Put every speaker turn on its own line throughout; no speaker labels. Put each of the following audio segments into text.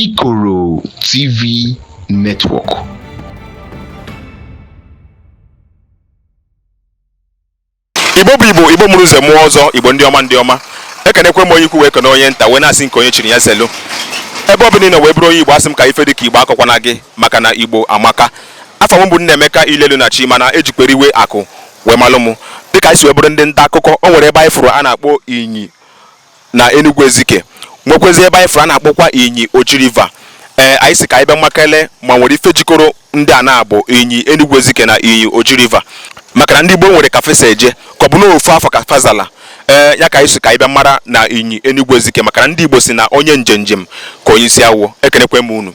Ikoro TV
Network. igbo bụ igbo igbo mụrụ nze mụọ ọzọ igbo ndị ọma ndị ọma ekenekwe m onye ukwu wee kene onye nta wee na-asị nke onye chiri ya zelu ebe ọ bụla ị nọ wee bụrụ onye igbo asị m ka ife dị ka igbo akọkwana gị maka na igbo amaka afa m bụ Nnaemeka Ilelu na chi mana ejikwere iwe akụ wee malụ m dịka anyị si wee bụrụ ndị nta akụkọ o nwere ebe anyị fụrụ a na-akpọ inyi na Enugu Ezike nwekwezi ebe anyị fụrụ a na-akpọkwa Inyi Oji River ee anyị sị ka anyị bịa makele ma nwere ife jikọrọ ndị a na-abụ Inyi Enugu Ezike na Inyi Oji River maka na ndị Igbo nwere ka fa si eje ka ọ bụ na ofu afa ka fa zala ee ya ka anyị sị ka anyị bịa mara na Inyi Enugu Ezike maka na ndị Igbo sị na onye njenjem ka onye isi awọ ekenekwe m unu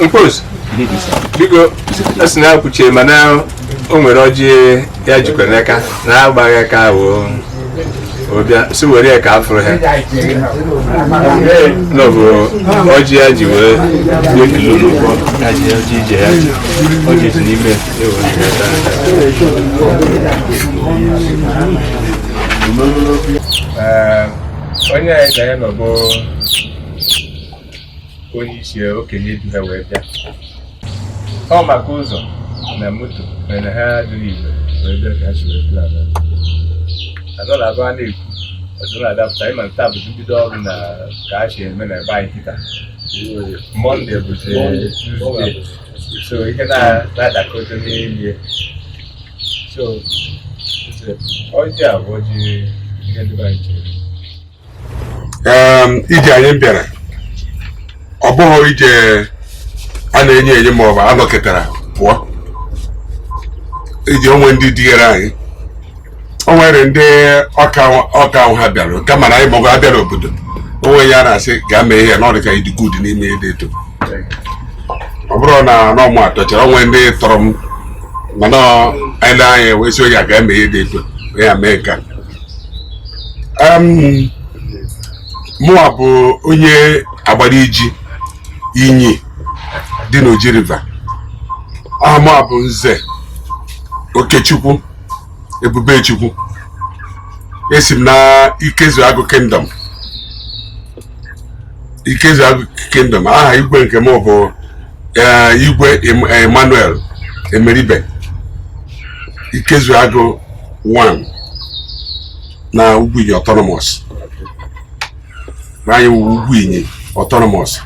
mkpos biko a sị na akwụchie mana o nwere ọjị ya jikwa n'aka na agbaghị aka ahụ ọbịa si were ya ka a fụrụ ha nọ bụ ọjị ya ji wee wee kilo n'ụgbọ ya ji ya ji ije ya ji ọjị si n'ime ewe Thank you. onye anyị na ya nọ bụ onye isi okenye du ha wee bịa ọ maka ụzọ na moto mere ha dịrị igwe wee bịa ka ha si wee plan adọla abụ a na-ekwu ọdụla adapụta ịma nta bụzi mbido ọrụ na ka a si eme na ebe anyị kịta mọnde bụzi tuzde so ihe na-adakọta n'elie so ọjị a bụ ọjị ihe ndị anyị chere Em,
ije anyị bịara ọ bụghị ije a na-enye enye ma ọ bụ a nọkatara pụọ ije o nwere ndị digara anyị o nwere ndị ọka ọka ahụ ha bịara kama na anyị maọbụ abịa n'obodo o nwe onye a na-asị gaa mee ihe na ọ dị ka ị dị good n'ime ihe dị eto ọ bụrọ na ọ mụwa tọchara o nwere ndị tọrọ m mana e lee anya wee sị onye a ga-eme ihe dị eto ya mee nka mụwa bụ onye Agbariji Inyi dị n'Oji River aha mụwa bụ nze Okechukwu Ebubechukwu esi m na Ikezu Agụ Kingdom Ikezu Agụ Kingdom aha igwe nke m bụ eh, igwe Emmanuel Emeribe Ikezu Agụ 1 na Ugwuinyi Autonomous anyị wụ Ugwuinyi Autonomous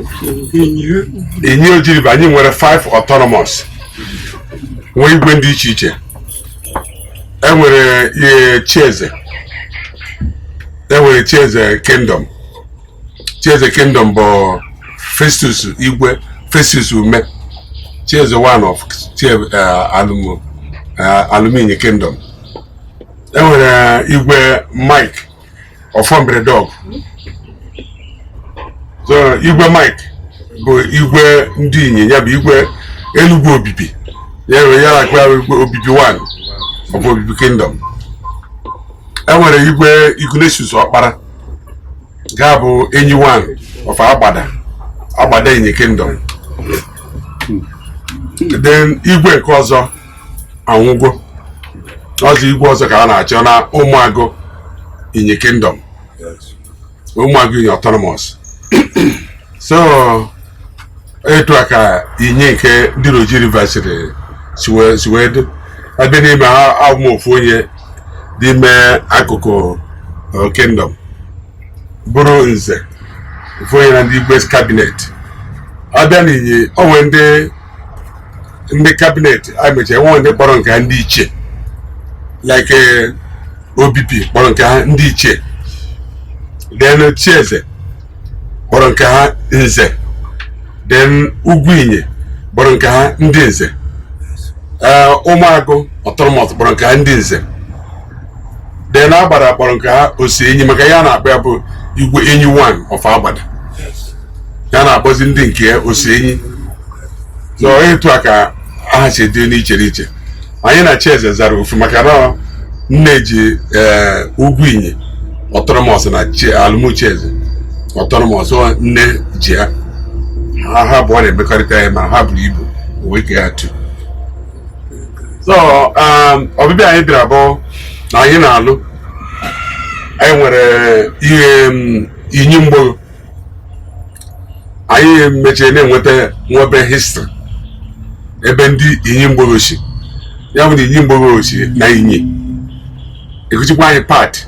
Inyi Oji River anyị nwere 5 Autonomous nwee igwe ndị iche iche e nwere eh, Chieze e nwere chieze kingdom chieze kingdom bụ festus igwe festus ume chieze one of alụm inyi kingdom e nwere igwe mike ọfọ mberedeogu so igwe mike bụ igwe ndị inyi ya bụ igwe enugwu obibi ya nwere ya na obibi one of obibi kingdom enwere igwe Ignatius Ọkpara ga-abụ enyi one of Agbada Agbada Inyi Kingdom then igwe nke ọzọ anwụgo ọzọ igwe ọzọ ka a na-achọ na ụmụagụ Inyi Kingdom ụmụagụ inyi autonomous so etu a ka inyi nke dị n'oji river si wee dị abịa n'ime ha abụ m ofu onye n'ime akụkụ uh, kingdom bụrụ nze ofu onye na ndị igwe cabinet abịa na inyi enwe ndị ndị cabinet a mecha enwe ndị kpọrọ nke ha ndị ichie like eh, obibi kpọrọ nke ha ndị ichie then chieze kpọrọ nke ha nze then ugwu inyi kpọrọ nke ha ndị nze eh, ụmụagụ autonomous kpọrọ nke ha ndị nze then agbada kpọrọ nke ha osi enyi maka ya na-akpọ ya bụ igwe enyi 1 of agbada ya na-akpọzi ndị nke ya osi enyi so etu a ka aha si dị n'iche n'iche anyị na chieze zara ofu maka na nne ji eh, ugwu inyi autonomous na alụm chieze autonomous nne ji ya ha ha abụọ na-emekọrịta ya ma ha buru ibu wee kee ha two so um, ọbịbịa anyị bịara bụ na anyị na-alụ anyị nwere ihe um, inyi mgbowo anyị mechie na-enweta nwebe history ebe ndị inyi mgbowo si ya bụ na inyi mgbowo si na inyi ekuchikwa anyị pati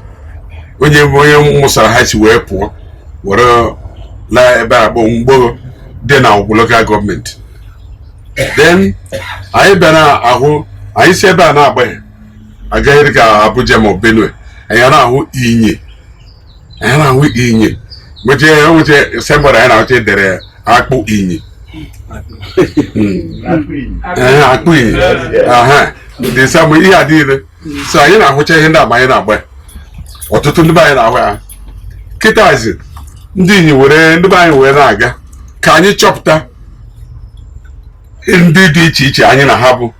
onye onye mụsara ha si wee pụọ were na ebe a bụ mgbowo dị na awgu local government then anyị bịara ahụ anyị si ebe a na-agbaghị agagharị ka Abuja ma Benue anyị na-ahụ inyi anyị na-ahụ inyi mgbechi enwechi signboard anyị na-ahụcha edere akpụ inyi Ee, akpụ inyi aha dị samụ ihe a niile so anyị na-ahụcha ihe ndị agba anyị na-agba ya. ọtụtụ ndị be anyị na-ahụ ya kịtazi ndị inyi were ndị be anyị wee na-aga ka anyị chọpụta ndị dị iche iche anyị na ha bụ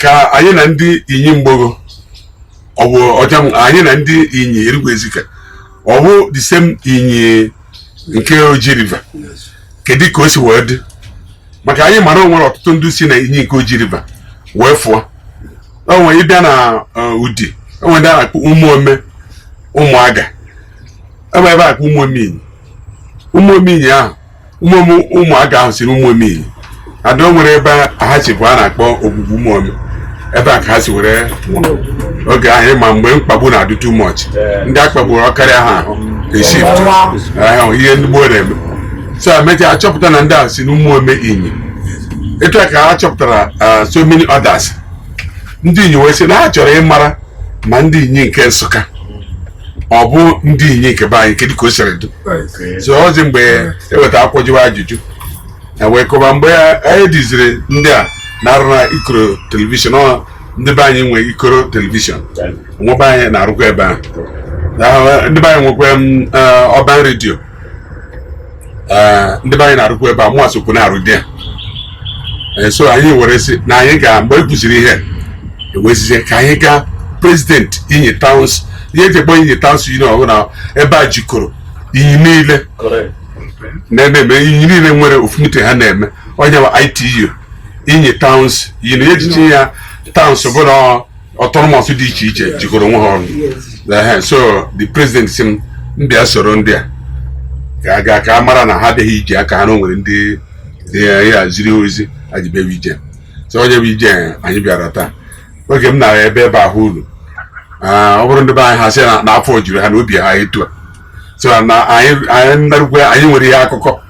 ka anyị na ndị inyi mgbowo ọ bụ ọja anyị na ndị inyi enugwu ezike ọ bụ the same inyi nke oji river kedu ka o si wee dị maka anyị mara o nwere ọtụtụ ndị si na inyi nke oji river wee fụọ o nwere ịbịa na uh, udi o nwere ndị a na-akpọ ụmụome ụmụaga e nwee ebe a na-akpọ ụmụome inyi ụmụome inyi ahụ ụmụome ụmụaga ahụ si na ụmụome inyi ada o nwere ebe ha si bụ a na-akpọ ogwugwu ụmụome ebe a ka ha si were oge ahụ ịma mgbe mkpagbu na-adị too much ndị a kpagburu ọ karịa ha ha eshift ihe ndị gboo na-eme so emechaa achọpụta na ndị ahụ si n'ụmụome inyi etu a ka ha chọpụtara uh, so many others ndị inyi wee sị na ha chọrọ ịmara ma ndị inyi nke nsụka ọ bụ ndị inyi nke be anyị kedu ka o siri dị so ọ bụzi mgbe e weta akwụkwọ jụwa ajụjụ e wee kọba mgbe anyị diziri ndị a na-arụ na ikoro television ọ ndị be anyị nwe ikoro television nwa be anyị na-arụkwa ebe ahụ ndị be anyị nwekwa urban radio eh, ndị be anyị na-arụkwu ebe a mụ esokwu na-arụ dị ya eh, so anyị were sị na anyị ga mgbe e kwuziri ihe e wee sịzie ka anyị gaa president inyi towns ihe e ji akpọ inyi towns union bụ na ebe a jikọrọ inyi niile na-eme inyi niile nwere ofu meeting ha na-eme ọ ya wụ ITU inyi towns union ihe e ji sị ya towns bụ na autonomous dị iche iche jikọrọ onwe ha ọnụ so the president sị m bịa soro ndị a gaa ka a mara na ha abịaghị ije aka ha na o nwere ndị ya ziri ozi ha ji bịawa ije so ọ ya bụ ije anyị bịara taa oge m na-aga ebe ebe ahụ ulu ọ bụrụ ndị be anyị ha sị na afọ juru ha na obi ha etu a so na anyị anyị nwere ihe akụkọ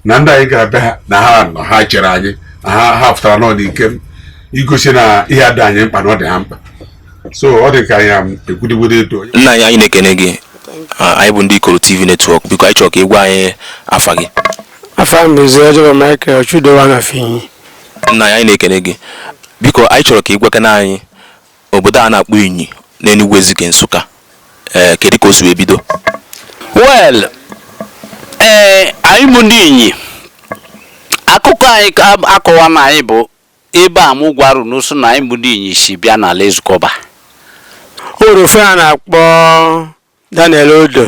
na ndị anyị gara be ha na ha nọ ha chere anyị na ha ha pụtara nọ n'ike igosi na ihe a dị anyị mkpa na ọ dị ha mkpa so ọ dị ka anyị ekwudigwede eto nna anyị anyị na-ekene gị
Ah, anyị bụ ndị ikoro tv network biko anyị chọrọ ka ị gwa anyị afa gị afa m bụ
eze ojoba michael chudo one of inyi nna anyị anyị na-ekene
gị biko anyị chọrọ ka ị gwakene anyị Obodo a na-akpọ Inyi n'Enugwu Ezike Nsụka, ee, kedu ka o si wee
bido? Well,
ee, anyị
bụ ndị Inyi, akụkọ anyị ka ab- akọwa na anyị bụ ebe a mụ gwarụ ụnụ sị na anyị bụ ndị Inyi si bịa n'ala Ezikeọba. O
nwere onye a na-akpọ Daniel Odo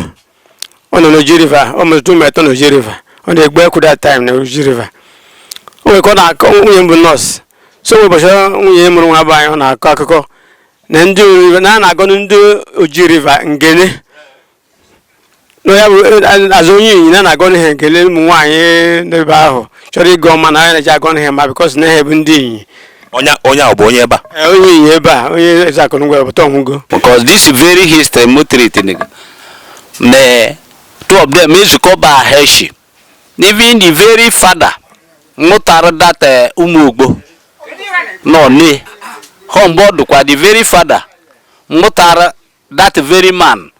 ọ nọ n'Oji River ọ mụrụ ụmụ etọ n'Oji River ọ na-egbu ekwu that time na Oji River o nwere ka ọ na-akọ nwunye ya bụ nọọsụ so mgbe ụbọchị nwunye mụrụ nwa bụ anyị ọ na-akọ akụkọ na ndị Oji River na a na-agọnụ ndị Oji River ngene na ya bụ azụ onye inyi na a na-agọnụ ha ngene ụmụ nwaanyị n'ebe ahụ chọrọ ịgọ ọma na anyị na-eji agọnụ ha ma because na ha bụ ndị inyi onye onye ahụ
bụ onye ebe a Eh, onye Inyi ebe a
onye eze akụrụngwa ya bụ Tom Ugo because this
very history mutriti nigga me two of them Ezike Ọba ha shi even the very father mụtara that eh, ụmụ ogbo nọ ne home bụdụkwa the very father mụtara that very man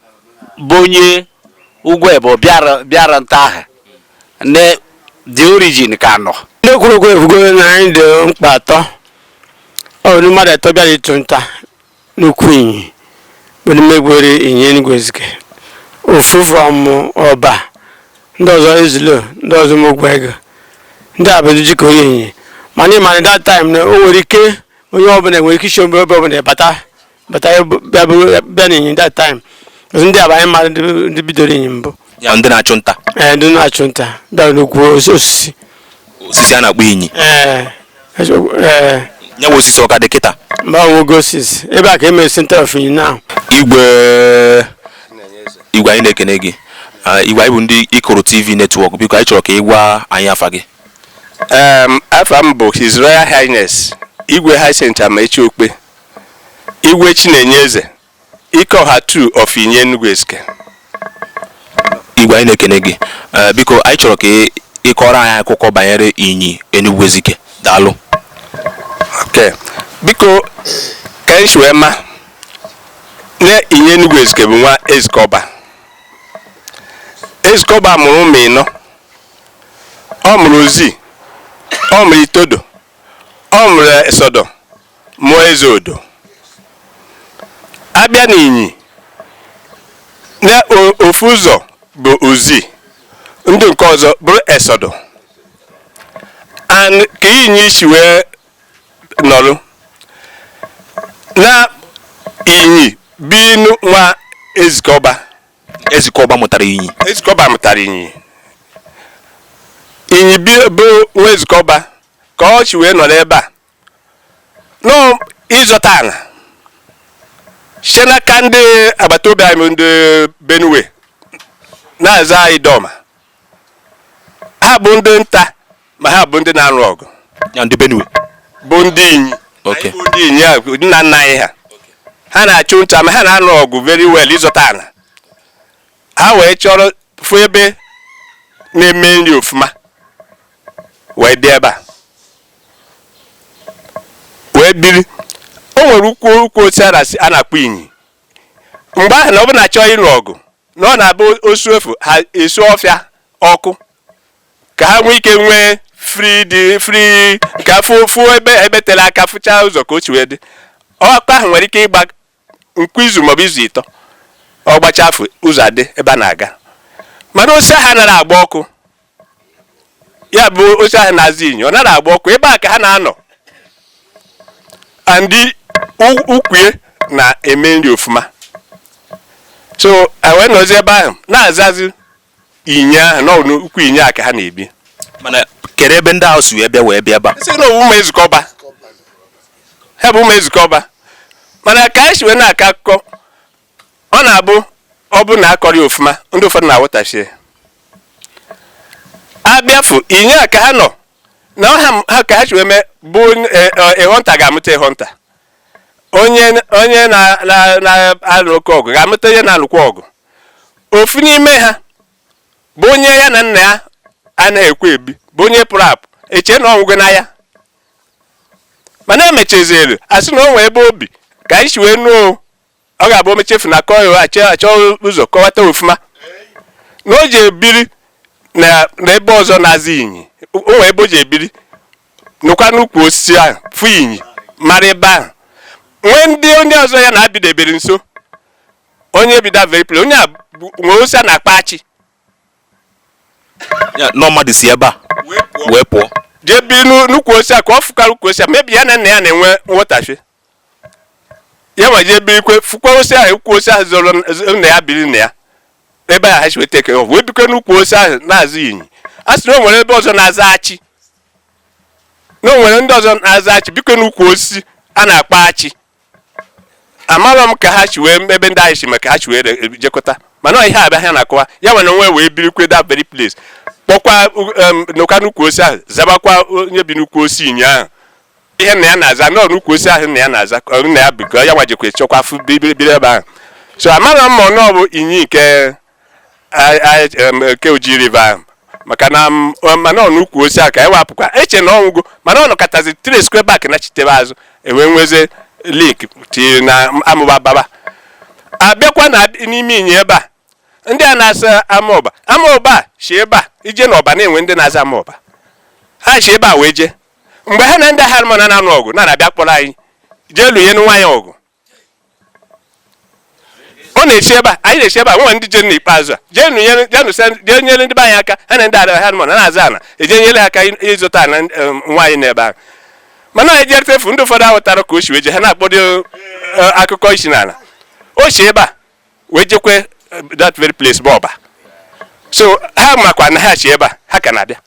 bụ onye ugwu ebo bịara bịara nta ahụ na the origin ka nọ ndị kwuru okwu efugo
na anyị dị mkpa atọ ọ bụ mmadụ atọ bịara ịchụ nta n'ukwu Inyi bụ ndị megwere Inyi Enugwu Ezike ofu from Ọba ndị ọzọ Ezilo ndị ọzọ mogwu ego ndị a bụ ndị jikọ onye Inyi mana ị ma na that time na o nwere ike onye ọbụla nwere ike ishi ebe ọbụla bata bata bịa bụrụ- bịa n'Inyi that time Because ndị a bụ anyị mara ndị ndị bidoro Inyi mbụ ya ndị na-achụ
nta ee ndị na-achụ
nta bịara n'ukwu os- osisi osisi a
na-akpọ inyi ee eso- ee ya bụ osisi ọ ka dị kịta mba ọ nwụgo osisi
ebe a ka e mere center of Inyi now
igwe igwe anyị na-ekene gị Ah, igwe anyị bụ ndị Ikoro TV network biko anyị chọrọ ka ị gwa anyị afa gị Um,
afa m bụ His Royal Highness Igwe Hyacinth Amaechi Okpe Igwe Chinenyeze Ike Ọha two of Inyi Enugu
Ezike igwe anyị na-ekene gị eh, biko anyị chọrọ ka ị kọrọ anyị akụkọ banyere Inyi Enugu Ezike daalụ
okay biko ka anyị si wee ma na Inyi Enugu Ezike bụ nwa Ezike Ọba Ezike Ọba mụrụ ụmụ ịnọ ọ mụrụ Ozi ọ mụrụ Itodo ọ mụrụ Esodo mụọ Ezodo a bịa n'Inyi na ofu ụzọ bụ Ozi ndị nke ọzọ bụrụ Esodo and ka Inyi si wee nọrụ na Inyi bụnụ nwa Ezike Ọba Ezike
Ọba mụtara Inyi Ezike Ọba mụtara Inyi
Inyi bụ nwa Ezike Ọba ka ọ si wee nọrọ ebe a nọ ịzọta ala site n'aka ndị agbata obi anyị ndị Benue na-aza Idoma ha bụ ndị nta ma ha bụ ndị na-arụ ọgụ ya ndị
Benue bụ ndị
Inyi Okay.
Anyị bụ
ndị Inyi a, nna nna anyị ha ha na-achụ nta ma ha na-arụ ọgụ very well ịzọta ala ha wee chọrọ fụ ebe na-eme nri ofuma wee bịa ebe a wee biri o nwere ukwu ukwu osisi a na-asị- a na-akpọ inyi mgbe ahụ na ọ bụ na a chọọ ịlụ ọgụ na ọ na-abụ osu efu ha esu ọfịa ọkụ ka ha nwee ike nwee free dị free ka fụ fụ ebe ebe tere aka fụchaa ụzọ ka o si wee dị ọkụ ahụ nwere ike ịgba nkwa izu maọbụ izu ịtọ ọ gbacha afụ ụzọ adị ebe a na-aga mana osisi ahụ anaghị agba ọkụ ya bụ osisi ahụ na-aza inyi ọ naghị agba ọkụ ebe a ka ha na-anọ andị ukwue na-eme nri ofuma so wee nọzi ebe ahụ na-azazi inyi ahụ na n'ukwu inyi a ka ha na-ebi mana
kere ebe ndị ahụ si wee bịa wee bịa ebe a sị na ọ bụ ụmụ ezike ọba
ha bụ ụmụ ezike ọba mana ka anyị si wee na-akọ akụkọ ọ na-abụ ọ bụ na akọrị ofuma ndị ụfọdụ na-aghọtachie abịafụ inyi a ka ha nọ na ọha ha ka ha si wee mee bụ e, e, ịghọ nta ga-amụta ịghọ nta onye na-alụ oke ọgụ ga-amụta onye na-alụkwa ọgụ ofu n'ime ha bụ onye ya na nna ya anaghị ekwe ebi bụ onye pụrụ apụ eche na ọ nwụgo n'aya mana emechaziri asị na o nwee ebe o bi ka anyị si wee nụọ ọ ga-abụ omechefu na akọ ya achọ achọ ụzọ kọwata ofuma na o ji ebiri na na ebe ọzọ na-aza inyi o nwee ebe o ji ebiri nụkwa n'ukwu osisi ahụ fụ inyi mara ebe ahụ nwee ndị onye ọzọ ya na-abịdebere nso onye bi that very place onye a bụ- nwere osisi a na-akpọ
achị Ya, nọ mmadụ si ebe a wee pụọ jee bi n'u-
n'ukwu osisi a ka ọ fụkara ukwu osisi a mebi ya na nna ya na-enwe nghọtafie ya ma jee birikwe fụkwa osisi ahụ ukwu osisi ahụ zoro n- z- nna ya biri na ya ebe ahụ ha si weta eke ọ wee bikwe n'ukwu osisi ahụ na-aza inyi a sị na o nwere ebe ọzọ na-aza achị na o nwere ndị ọzọ na-aza achị bikwe n'ukwu osisi a na-akpọ achị amarọ m ka ha si wee ebe ndị anyị si maka ha si wee e, jekọta mana ihe abịa ha na-akọwa ya nwere onwe wee birikwe that very place kpọkwa n'ụka n'ukwu osisi ahụ zabakwa onye bi n'ukwu osisi inyi ahụ ihe nna ya na-aza nọọ n'ukwu osisi ahụ nna ya na-aza nna ya bikọ ya nwa jekwa chọkwa afụ biri ebe ahụ so amarọ m ma ọ bụ inyi nke ke oji river maka na mana n'ukwu osisi a ka ewapụkwa eche na ọ nwụgo mana ọ nọkatazi tracekwa back nachitebe azụ e wee nwezie link tiri na amụba baba abịakwa na n'ime inyi ebe a ndị a na-aza amaọba amaọba si ebe a ije na ọba na-enwe ndị na-aza amaọba ha si ebe a wee jee mgbe ha na ndị harmon na-anụ ọgụ na-abịa kpọrọ anyị jee lụnyere ha ọgụ ọ na-esi ebe a anyị na-esi ebe a nwe ndị je n'ikpeazụ a jee nyere ndị be anyị aka ha na ndị adara ha mana na-aza ana eje nyere ha aka ịzụta nwaanyị n'ebe ahụ mana anyị jere tefu ndị ụfọdụ ahụtara ka o si wee je ha na-akpọdo e, akụkọ ịsị na o si ebe a wee jekwa eh, that very place bụ ọba so ha makwa na ha si ebe a ha ka na-abịa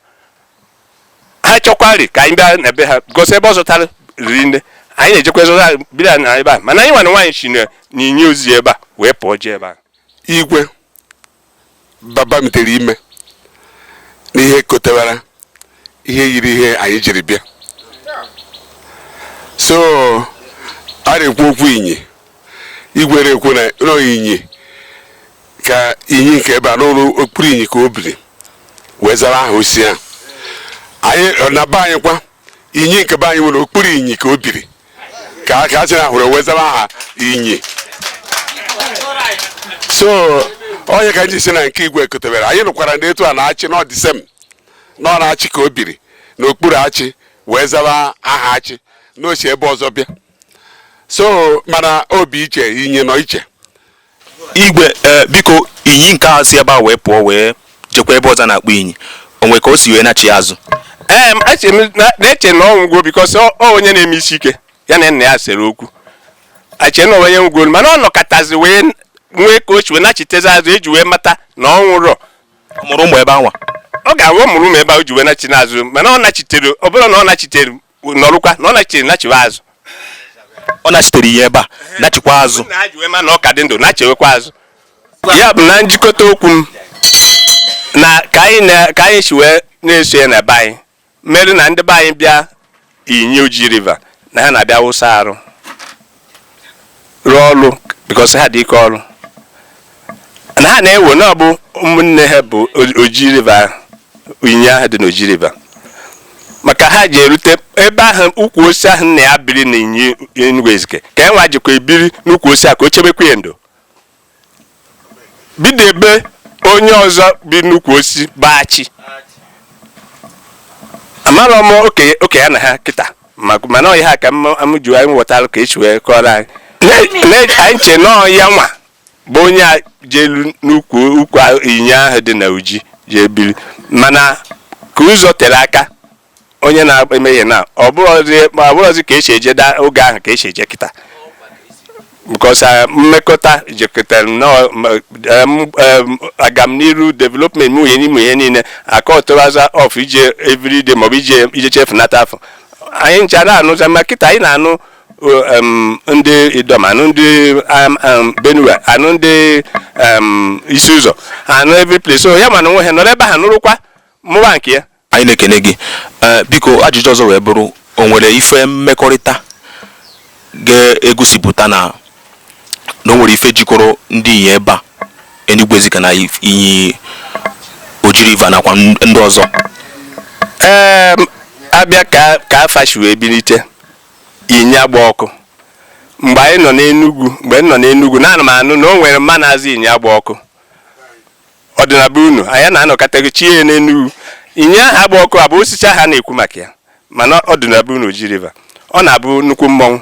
ha chọkwari ka anyị bịa n'ebe ha gosi ebe ọ zụtara riri nne anyị na-ejekwa zụta bịa na ebe a mana anyị nwana nwaanyị si n'inyi o si ebe a wee pụọ jee ebe a igwe
babamitere ime n'ihe kotewara ihe yiri ihe anyị jiri bịa so a na-ekwu okwu inyi igwe na-ekwu na inyi ka inyi nke ebe a n'ụlọ okpuru inyi ka o biri wee zara aha osisi ahụ anyị na be anyị kwa inyi nke be anyị nwere okpuru inyi ka o biri ka a ka a sị na hụrụ wee zaba aha inyi so ọ ya ka m ji sị na nke igwe kọtebere anyị nụkwara na etu a na achi na ọ the same na ọ n'achi ka o biri n'okpuru achi wee zaba aha achi na o si ebe ọzọ bịa so mana o bi iche inyi nọ iche
igwe ee biko inyi nke a si ebe a wee pụọ wee jekwa ebe ọzọ a na-akpọ inyi o nwe ka o si wee nachi azụ ee
na-eche na ọ nwụgo because ọ onye na-eme isi ike ya na nna ya sere okwu e che na onye nwụgo mana ọ nọkọtazi wee nwee ka o si wee nachitezi azụ e ji wee mata na ọ nwụrọ mụrụ ụmụ ebe
anwa ọ ga-awụ mụrụ
ụmụ ebe ahụ ji wee nachi n'azụ mana ọ nachitere ọ bụrụ na ọ nachitere nọrụkwa na ọ nachiri nachiwe azụ
ọ nachitere inyi ebe a nachikwa azụ na ha ji wee ma na ọ ka dị
ndụ nachiwekwa azụ ya bụ na njikọta okwu m na ka anyị na- ka anyị si wee na-eso ya na be anyị mere na ndị be anyị bịa inyi oji river na ha na-abịa wụsa arụ rụọ ọrụ because ha dị ike ọrụ na ha na-ewe na ọ bụ ụmụnne ha bụ oji river inyi ahụ dị n'oji river maka ha ji erute ebe ahụ ukwu osisi ahụ nna ya biri na inyi enugwu ezike ka ha nwa jikwa ebiri n'ukwu osisi a ka o chebekwa ya ndo bidebe onye ọzọ bi n'ukwu osisi bụ achi amarọ m oke ya na ha kịta ma- mana ọ ya ka m m ji anyị ghọtara ka e si wee kọrọ anyị Na- na- anyị che na ọ ya nwa bụ onye a jelu n'ukwu ukwu a- inyi ahụ dị na oji jee biri mana ka ụzọ tere aka onye na-eme ihe na ọ bụrọzi ka esi eje da oge ahụ ka esi eje kịta because uh, mmekọta jikọtara nnọọ um, um, agamniru development m ihe n'ime ihe niile aka ọtụraza of ije everyday maọbụ ije ije chefunata afọ anyị ncha na-anụza ma kịta anyị na-anụ um, ndị Idoma anụ ndị Benue anụ ndị Isi Ụzọ anụ every place so ya mana onwe ha nọrọ ebe ha nụrụkwa mụwa nke ya Anyị na-ekene
gị. Ee, biko ajụjụ ọzọ wee bụrụ o nwere ife mmekọrịta ga-egosipụta na na o nwere ife jikọrọ ndị Inyi ebe a Enugwu Ezike na if- Inyi Oji River nakwa n- ndị ọzọ
ee abịa ka ka afa si wee bilite Inyi agba ọkụ mgbe anyị nọ n'enugwu mgbe m nọ n'enugwu na ana m anụ na o nwere mma na-aza Inyi agba ọkụ ọ dị na be unu anyị na-anụkata chee n'Enugu inyi ahụ agba ọkụ abụ osisi ahụ a na-ekwu maka ya mana ọ dị na be unu Oji River ọ na-abụ nnukwu mmọnwụ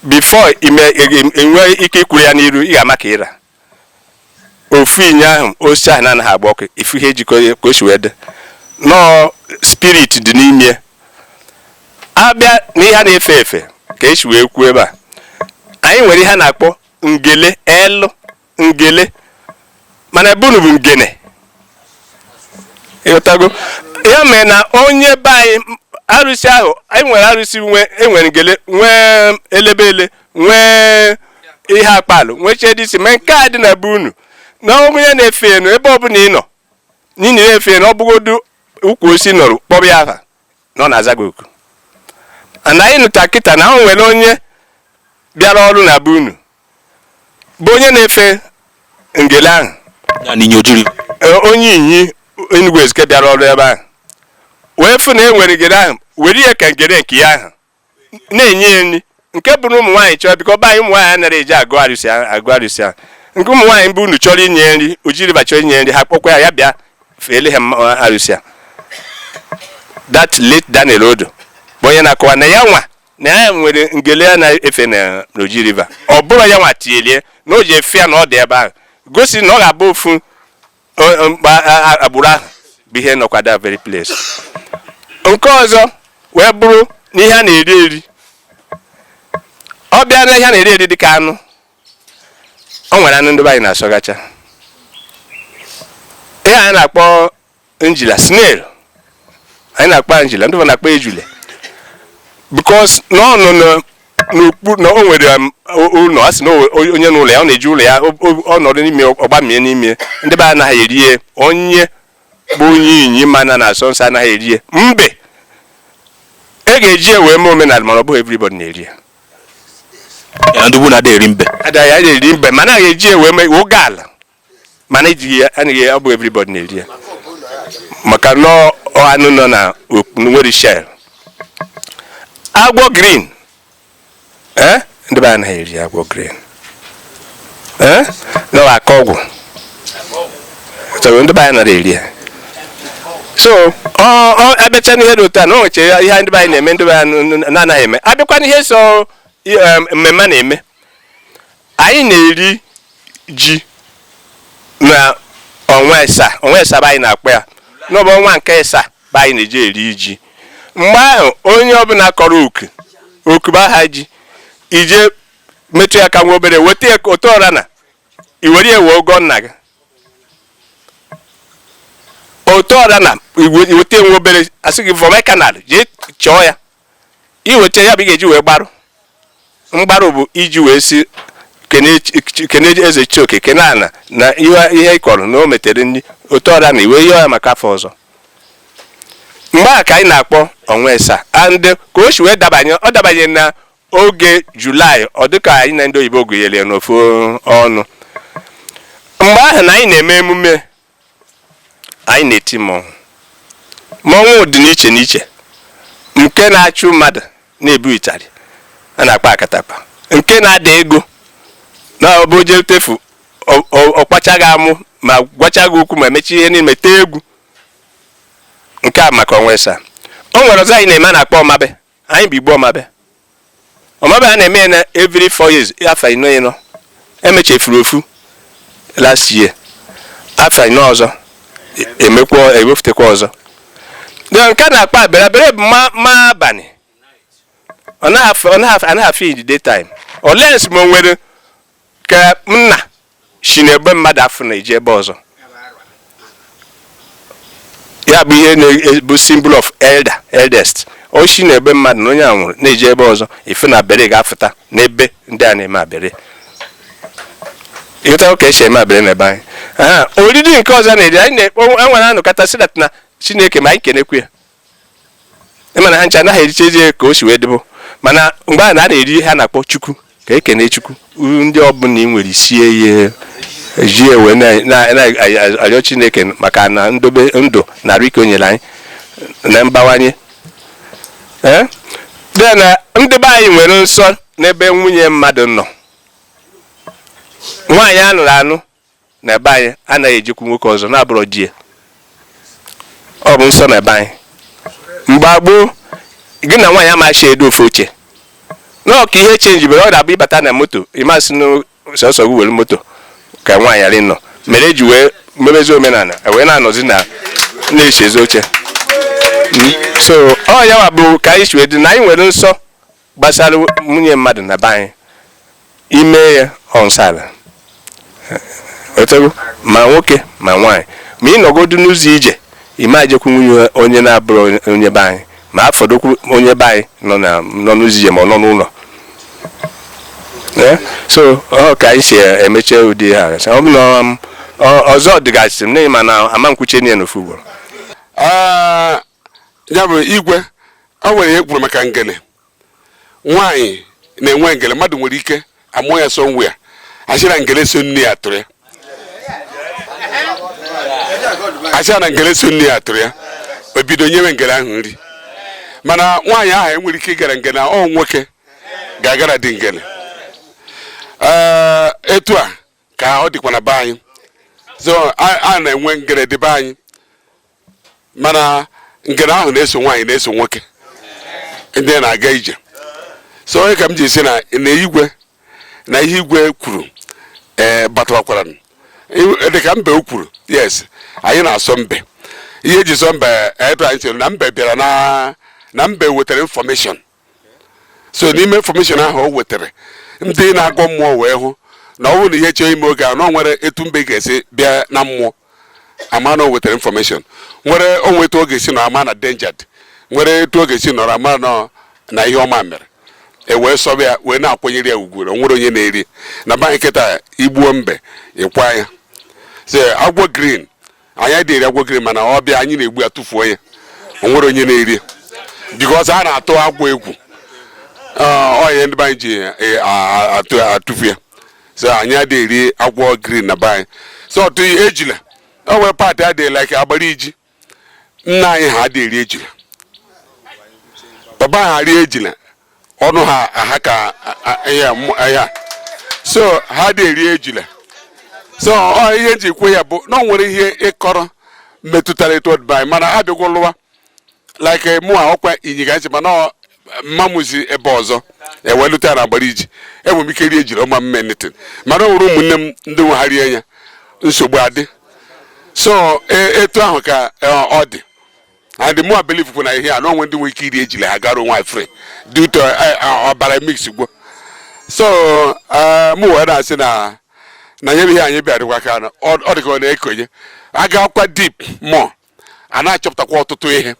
before ime enwe ike ikwuru ya n'iru ị ga-ama ka ịra ofu inyi ahụ osisi ahụ na-anaghị agba ọkụ ị fụ ihe ejikọ ka o si wee dị nọọ spirit dị n'ime abịa na ihe a na-efe efe ka esi wee kwuo ebe a anyị nwere ihe a na-akpọ ngele elu ngele mana ebe unu bụ ngene ịghọtago ya mere na onye be anyị arụsị ahụ anyị nwere arụsị enwere ngele nwee elebele nwee ihe akpalụ nwee chedisi ma nke a dị na be unu na onye na-efe enu ebe ọbụla ị nọ n'ihi na-efe enu ọ bụgodu ukwu osisi nọrọ kpọrọ ya aha na ọ na-aza gị oku na anyị nụta kịta na o nwere onye bịara ọrụ na be unu bụ onye na-efe ngele ahụ ya na Inyi Oji Ri- e, onye Inyi Enugu Ezike bịara ọrụ ebe ahụ wee fụ na e nwere ngele ahụ were ya ka ngele nke ya ahụ na-enye ya nri nke bụrụ ụmụ nwaanyị chọrọ because be anyị ụmụ nwaanyị anaghị eje agọ arụsị agọ arụsị a nke ụmụ nwaanyị be unu chọrọ inye nri Oji River chọrọ inye nri ha kpọkwa ya ya bịa feele ha arụsị a that late Daniel Odo bụ onye na-akọwa na ya nwa na ya nwere ngele ya na-efe na Oji River ọ bụrọ ya nwa tinyere na o ji efe ya na ọ dị ebe ahụ gosi na ọ ga-abụ ofu agbụrụ ahụ bụ ihe nọkwa that very place nke ọzọ wee bụrụ na ihe a na-eri eri ọ bịa na ihe a na-eri eri dịka anụ o nwere anụ ndị be anyị na-asọgacha ihe anyị na-akpọ njila snail anyị na-akpọ njila ndị na-akpọ ejule because n'ọnụnụ n'okpuru na o nwere um, ụlọ a sị na onye n'ụlọ ya ọ na-eji ụlọ ya ọ nọdụ n'ime ọ bamie n'ime ndị be anaghị eri ya onye bụ onye inyi mana na-asọ nsọ anaghị eri ya mbe e ga-eji ya wee mee omenala mana ọ bụghị everybody
na-eri ya ndị ugwu na-ada eri mbe ada ya eri mbe mana
a ga-eji ya wee mee oge ala mana ejighị ya anaghị ya ọ bụ everybody na-eri ya maka na ọ- ọ anụ nọ na ok- nwere shell agwọ green eh? ndị be anaghị eri agwọ green eh? na ọ aka ọgwụ so ndị be anyị nara eri ya so ọ ọ a bịacha n'ihe dị otu a na o nweche ihe ndị be anyị na-eme ndị be anyị na-anaghị eme a bịakwa n'ihe so um, mmemme a na-eme anyị na-eri ji na ọnwa ịsaa ọnwa ịsaa bụ anyị na-akpọ ya na ọ bụ ọnwa nke ịsaa bụ anyị na-eji eri ji mgbe ahụ onye ọbụla kọrọ oku oku bụ aha ji i je metụ ya aka nwa obere weta ya otu ọ ra na i were ya wee gọọ nna gị otu ọ ra na i weta ya nwa obere a sị gị vọmie aka n'ala jee chọọ ya i weta ya bụ ị ga-eji wee gbarụ mgbarụ bụ iji wee sị kene chi- kene eze chioke kene ana na ihe ihe ị kọrọ na o metere nri otu ọ ra na i wee yọọ ya maka afọ ọzọ mgbe ahụ ka anyị na-akpọ ọnwa ịsaa and ka o si wee dabanye ọ dabanye na oge julaị ọ dị ka anyị na ndị oyibo gụnyere ya n'ofu ọnụ mgbe ahụ na anyị na-eme emume anyị na-eti mmọnwụ mmọnwụ dị n'iche n'iche nke na-achụ mmadụ na-ebu ịtarị a na-akpọ akatakpa nke na-ada ego na ọ bụ o je tefu ọ kpacha gị amụ ma gwacha gị okwu ma mecha ihe niine tee egwu nke a maka ọnwa ịsaa o nwere ọzọ anyị na-eme a na-akpọ ọmabe anyị bụ igbo ọmabe ọmabe a na-eme ya na every four years afọ ịnọ ịnọ e mechefuru ofu last year afọ ịnọ ọzọ e- emekwa e wepụtakwa ọzọ na nke a na-akpọ abere abere bụ ma ma abalị ọ na-afụ ọ na-afụ anaghị afụ in the daytime unless ma o nwere ka ọ na-esi n'ebe mmadụ afụ na-eje ebe ọzọ ya bụ ihe na-ebu symbol of elder eldest o si n'ebe mmadụ na onye a nwụrụ na-eje ebe ọzọ ife na abere ga-afụta n'ebe ndị a na-eme abere ị ghọtago ka e si eme abere na ebe anyị oriri nke ọzọ na-eri anyị na-ekpo enwere anụkata si na chineke ma anyị kenekwu ya ịma na ha ncha anaghị erichazi ka o si wee dịbụ mana mgbe a na-eri ha na-akpọ chukwu ka ekene chukwu ndị ọbụla ị nwere isie ya ejie wee na-arịọ chineke maka na ndobe ndụ na arụ ike o nyere anyị na mbawanye ee then ndị be anyị nwere nsọ n'ebe nwunye mmadụ nọ nwaanyị anụrụ anụ na be anyị anaghị ejekwu nwoke ọzọ na-abụrọ di ya ọ bụ nsọ na be anyị mgbe gboo gị na nwaanyị amachi edo ofu oche nọọ ka ihe chenjibere ọ na-abụ ị bata na moto ị ma sị na sọsọ gị were moto ka nwaanyị ghara ịnọ mere eji wee mebezi omenala e wee na-anọzi na na-echezi oche hmm? so ọ yawa bụ ka anyị si wee dị na anyị nwere nsọ gbasara nwunye mmadụ na be anyị i mee ya ọ nsọ ala otego ma nwoke ma nwaanyị ma ị nọgodu n'ụzọ ije ị ma ejekwu nwunye onye na-abụrọ onye be anyị ma ya fọdụkwu onye be anyị nọ n'ụzọ ije ma ọ nọ n'ụlọ eh? so ọ ka anyị si emeche ụdị ha ọ bụ na um, ọzọ dịgasị mana ị ma na ama m kwuche niile n'ofu ugboro ah,
ya bụ igwe o nwere ihe i kwuru maka ngele nwaanyị na-enwe ngele mmadụ nwere ike amụ ya sowe ya asị na ngele so nne ya tụrụ ya asị na ngele so nne ya tụrụ ya o bido nyewe ngele ahụ nri mana nwaanyị ahụ enwerọ ike ịgara ngele ọ nwoke ga-agara dị ngele etu a ka ọ dịkwa na be anyị so a na-enwe ngele dị be anyị mana ngele ahụ na-eso nwaanyị na-eso nwoke ndị na-aga ije so ọ ya ka m ji sị na na igwe na ihe igwe kwuru ee eh, batawakwara dịka mbe o kwuru yes anyị na-asọ mbe ihe eji sọ mbe etu anyị chere na mbe bịara na mbe wetara information so n'ime information ahụ o wetara ndị na-agọ mmụọ wee hụ na ọ bụrụ na ihe chọọ ime oge a na ọ nwere etu mbe ga-esi bịa na mmụọ ama na o wetara information nwere onwe etu ọ ga-esi nọ ama na danger dị nwere etu ọ ga-esi nọrọ ama na ihe ọma mere e wee sọba ya wee na-akwanyere ya ugwu na o nwerọ onye na-eri na be anyị kịta i gbuo mbe ị kwaa ya so agwọ green anyị adịghị eri agwọ green mana ọ bịa anyị na-egbu ya tụfuo ya o nwerọ onye na-eri ya because a na-atụ agwọ egwu ọ ihe ndị be anyị ji e, atụfu ya so anyị adịghị eri agwọ green na be anyị so ọtụ ejila o nwere part adịghị like agbara iji nna anyị ha adịghị eri ejila baba ha rie ejila ọnụ ha aha ka ya so ha adị eri ejila so ihe m ji kwuo ya bụ na ọ nwere ihe ị kọrọ metụtara etu ọ dị be anyị mana abịagwo lụwa like mụ a ọkwa inyi ka m si mana mama m si ebe ọzọ e wee lụta na agbariji enwere m ike rie ejila ọ ma eme m nothing mana ọ nwere ụmụnne m ndị nwe ha rie ya nsogbu adị so e, etu ahụ ka e, ọ dị and mụ a believe kwa na ihe a na o nwe ndị nwere ike iri ejila ha gara onwe free due to eh, eh, ọbara mix gwo so eh, mụ wee na-asị na na nye ihe anyị bịarịkwa ka na ọ dịka ọ na-ekonye a gakwa deep more a na-achọpụtakwa ọtụtụ ihe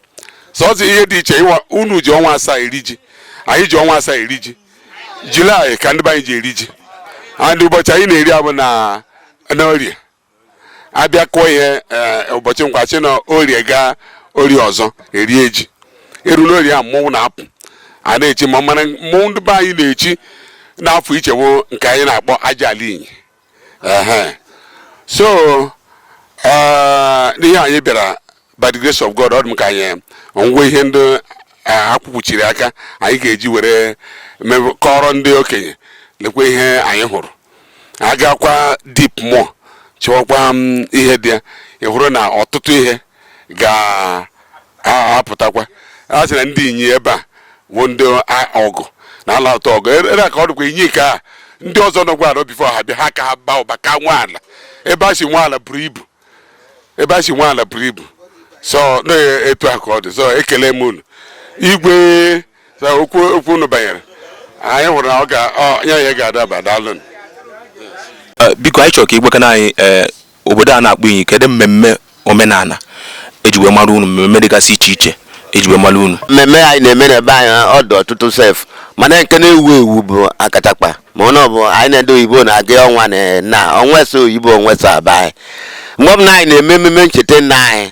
so ọzọ ihe dị iche unu ji ọnwa asaa eri ji anyị ji ọnwa asaa eri ji julaị ka ndị be anyị ji eri ji and ụbọchị anyị na-eri ya bụ n'orie a bịa kụọ ihe eh, ụbọchị nkwọ si na orie gaa orie ọzọ e rie ji eru n'orie a mmọnwụ na-apụ a na-echi mma mana mmọnwụ ndị be anyị na-echi n'afọ ichewo nke anyị na-akpọ aja ala inyi so eh, n'ihe anyị bịara by the grace of God ọ dị m ka anyị nwe ihe ndị eh, akwụkwuchiri aka anyị ga-eji were mebe- kọọrọ ndị okenye lekwa ihe anyị hụrụ a gakwa deep more chọwakwa ihe dị ya ị hụrụ na ọtụtụ ihe ga-apụtakwa a sị na ndị inyi ebe a bụ ndị a- ọgụ na ala ụtọ ọgụ ere ere ka ọ dịkwa inyi ka a, ndị ọzọ nọkwa ala before ha bịa ha ka ha baa ụba ka nwe ala ebe a si nwe ala buru ibu ebe a si nwe ala buru ibu so na etu a ka ọ dị so ekele m unu igwe okwu okwu unu banyere anyị hụrụ na ọ ga ya ya ga-adaba daalụ
eh, biko anyị chọrọ ka ị gwakene anyị eh, obodo a na-akpọ inyi kedu mmemme omenala eji wee mara unu mmemme dịgasị iche iche eji wee mara unu mmemme anyị na-eme na
be anyị ọ dị ọtụtụ sef mana nke na-ewu ewu bụ akatakpa ma ọ na ọ bụ anyị na ndị oyibo na-aga ọnwa na na ọnwa esaa oyibo ọnwa esaa be anyị mgbe ọbụla anyị na-eme ememe ncheta nna anyị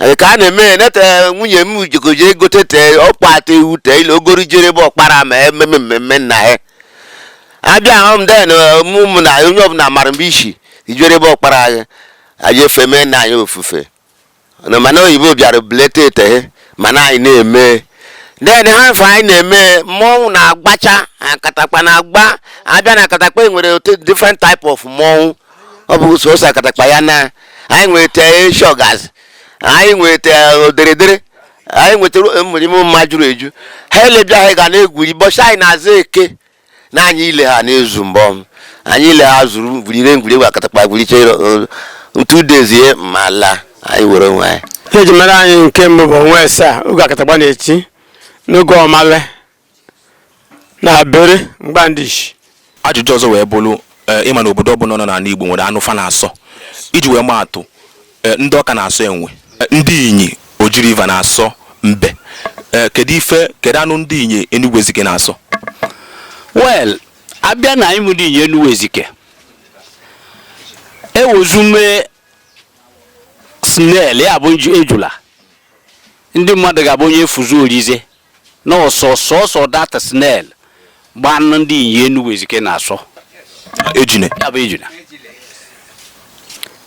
ee, ka a na-eme ya nete nwunye m jikoje egote tee ọkpa ata ewu tee ile ogori jere ebe ọkpara ma ememe mmemme nna ya abịa ahụ m then ụmụ na onye ọbụla mara mgbe isi ijere ebe ọkpara anyị anyị efe mee nna anyị ofufe na mana oyibo bịara bleta eteghe mana anyị na-eme then ha mfe anyị na-eme mmọnwụ na-agbacha akatakpa na-agba abịa na akatakpa e nwere different type of mmọnwụ ọ bụ sọsọ akatakpa ya na anyị nweta shọgas anyị nweta oderedere anyị nwetara mmerime mma juru eju ha ile bịa ha ga na-egwuri bọchị anyị na-aza eke na anyị ile ha na-ezu mbọ anyị ile ha zuru gwurire egwuri akatakpa gwuricha two days ma laa anyị were onwe anyị ihe e ji mara anyị
nke mbụ bụ ọnwa asaa oge akatakpa na-eti n'oge ọmale na bere mgbandishi ajụjụ ọzọ wee
bụrụ eh, ịma na obodo ọbụla nọ n'ala Igbo nwere anụ fa na-asọ iji wee maa atụ Eh, ndị Ọka na-asọ enwe Eh, ndị Inyi Oji River na-asọ mbe Eh, kedu ife kedu anụ ndị Inyi Enugwu Ezike na-asọ
well a bịa na anyị ndị Inyi Enugwu Ezike ewezume snail ya bụ nju- ejula ndị mmadụ ga-abụ onye efuzu orize na ọ sọ sọsọ that snail bụ anụ ndị Inyi Enugu Ezike na-asọ ejune
ya bụ ejula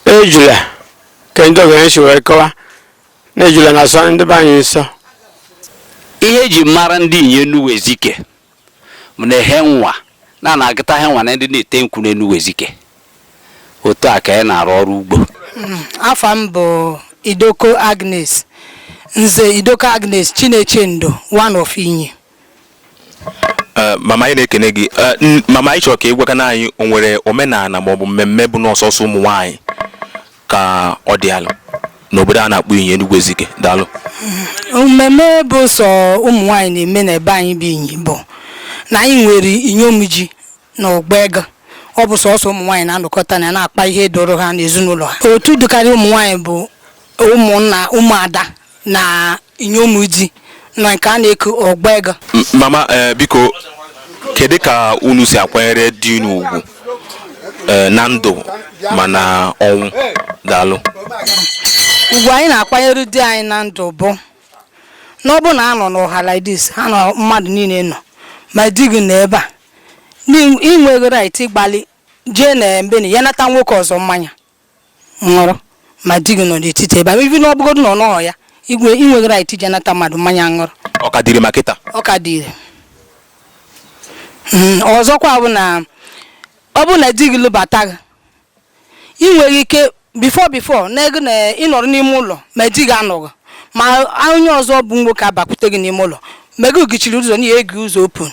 ejula ka ndị okenye si wee kọwa na ejula na-asọ ndị be anyị nsọ
ihe eji mara ndị Inyi Enugu Ezike m na-ehe nwa na na-agụta he nwa na ndị na-ete nkwụ n'Enugu Ezike otu a ka anyị na-arụ ọrụ ugbo afa m
bụ Idoko Agnes Nze Idoko Agnes Chinechendo one of Inyi
Eh, mama anyị na-ekene gị Eh, n- mama anyị chọrọ ka ị gwakana anyị o nwere omenala maọbụ mmemme bụ na ọ sọsọ ụmụ nwaanyị ka ọ dị alụ n'obodo a na-akpọ Inyi Enugwu Ezike daalụ
mmemme bụ sọ ụmụ nwaanyị na-eme n'ebe anyị bụ Inyi bụ na anyị nwere inyom ji na ọgba ego ọ bụ sọsọ ụmụ nwaanyị na-anọkọta na na-akpa ihe doro ha n'ezinụlọ ha otu dịkarị ụmụ nwaanyị bụ ụmụnna ụmụada na inyom di na nke a na-eku ọgba ego M- mama ee
biko kedu ka unu si akwanyere di unu ugwu ee, na ndụ ma na ọnwụ daalụ
ugwu anyị na-akwanyere di anyị na ndụ bụ na ọ bụ na a nọ n'ọha like this ha na mmadụ niile nọ ma di gị nọ ebe a na ị nweghị right ịgbalị jee na mbeni ya nata nwoke ọzọ mmanya ṅụrụ ma di gị nọ n'etiti ebe a even ọ bụgodu na ọ nọghọ ya ị nwe- ị nweghị right ije nata mmadụ mmanya ṅụrụ ọ ka dị ire ma kịta
ọ ka dị ire
Mm, ọzọkwa bụ na ọ bụrụ na di gị lụbata gị ị nweghị ike before before n'ego na ị nọrọ n'ime ụlọ ma di gị anọghị ma onye ọzọ bụ nwoke abakwute gị n'ime ụlọ ma ị gụchiri ụzọ na ị ya-eghe ụzọ open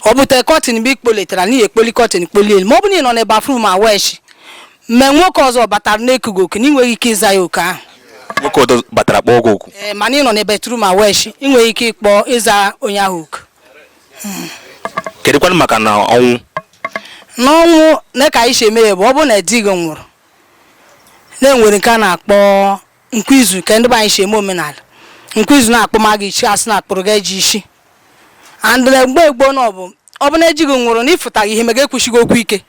ọ bụte curtain mgbe i kpoletara na ị ya-ekpoli curtain kpolie elu ma ọ bụ na ị nọ na bathroom awụ eshi mgbe nwoke ọzọ batara na-eku gị oku na ị nweghị ike ịza ya oku ahụ nwoke ọzọ
batara kpọọ gị oku ee mana ị nọ na bathroom
awụ eshi ị nweghị ike ịkpọ ịza onye ahụ oku
kedụkwanụ maka na ọnwụ n'ọnwụ
na ka anyị si eme ya bụ ọ bụrụ na di gị nwụrụ na e nwere nke a na-akpọ nkwa izu ka ndị be anyị si eme omenala nkwa izu na akpụma gị ishi asị na akpụrụ gị ajị isi and mgbe gboo na ọ bụ ọ bụ na ji gị nwụrụ na ịfụtaghị ihe ma gị ekwushighị okwu ike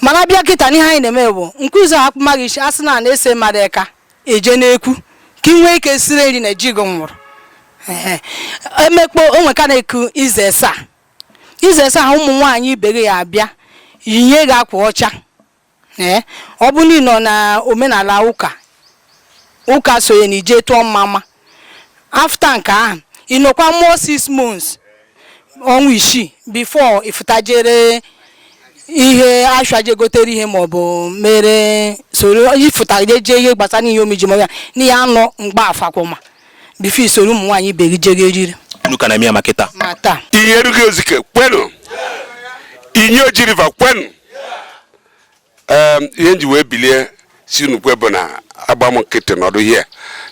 mana bịa kịta n'ihe anyị na-eme bụ nkwa izu ahụ akpụma gị ishi asị na na-ese mmadụ eka eje n'ekwu ka ị nwee ike siri nri na ji gị nwụrụ emekpo ọnwa ka na-eku izu esaa izu esaa ahụ ụmụ nwaanyị ibe gị ya abịa yinye gị akwa ọcha ee ọ bụrụ na ị nọ na omenala ụka ụka sonye na ije tụọ mmama after nke ahụ ị nọkwa more six months ọnwa isii before ị fụta jere ihe ashụa je gotere ihe ma ọ bụ mere soro ifụta je jee ihe gbasara ihe omiji ma ya na ihe anọ mgba afakwụma before i soro ụmụ nwaanyị ibe gị jere eriri unu ka na-eme ya ma kịta
ma taa Inyi Enugu
Ezike
kwenu Inyi Oji River kwenu ihe m ji wee bilie sị unu kwe bụ na agba m nkịtị nọdụ here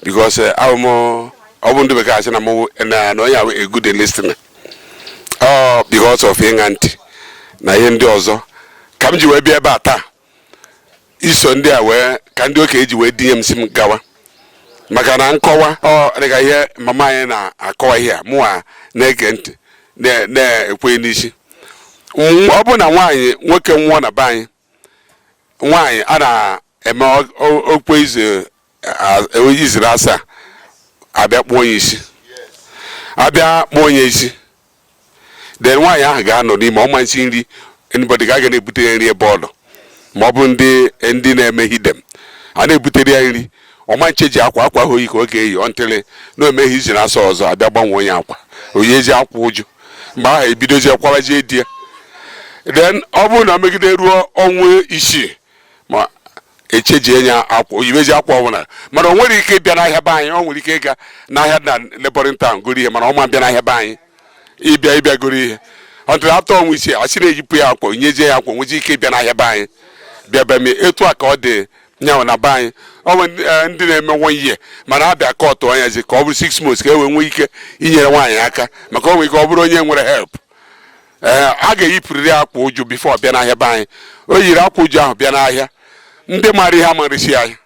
because eh, abụ m ọ bụ ndị bekee asị na mụ na onye ahụ a good listener ọ because of ịṅa ntị na ihe ndị ọzọ ka m ji wee bịa ebe a taa iso ndị a wee ka ndị okenye ji wee dunye m sị m gawa maka na nkọwa ọ dịka ihe mama anyị na-akọwa ihe a mụwa na-ege ntị na- na-ekwe n'isi M- ọ bụ na nwaanyị nwoke nwụọ na be anyị nwaanyị a na-eme ọ- ọ- ọkwa izu izu naasaa abịa kpụọ ya isi abịa kpụọ ya isi then nwaanyị ahụ ga-anọ n'ime ọ ma esi nri anybody ga-aga na-ebutere ya nri ebe ọ nọ ma ọ bụ ndị ndị na-eme heathen a na-ebutere ya nri ọ ma echenji akwa akwa ahụ o yi ka ọ ga-eyi until na omeghi izu naasaa ọzọ abịa gbanwee nye akwa o yiezi akwa uju mgbe ahụ ebidozie kwawazie di ya then ọ bụrụ na e megide ruo ọnwa isii ma echenjie nye akwa o yibezi akwa ọbụla mana o nwerọ ike ịbịa n'ahịa be anyị o nwere ike ịga n'ahịa dị na neighboring town goro ihe mana ọ ma bịa n'ahịa be anyị ịbịa ịbịa goro ihe until after ọnwa isii asị na-eyipụ ya akwa onyezie ya akwa nwezi ike ịbịa n'ahịa be anyị bịa be m etu a ka ọ dị nyanwụ na be anyị ọ bụ ndị- eh, ndị na-eme one year mana abịa kọtụọ nya zi ka ọ bụrụ six months ka e wee nwee ike inyere nwaanyị aka maka o nwere ike ọ bụrụ onye nwerọ help ee a ga-eyipụrịrị akwa uju before ọ bịa n'ahịa be anyị o yiri akwa uju ahụ bịa n'ahịa ndị mara ya ama resi ya ahịa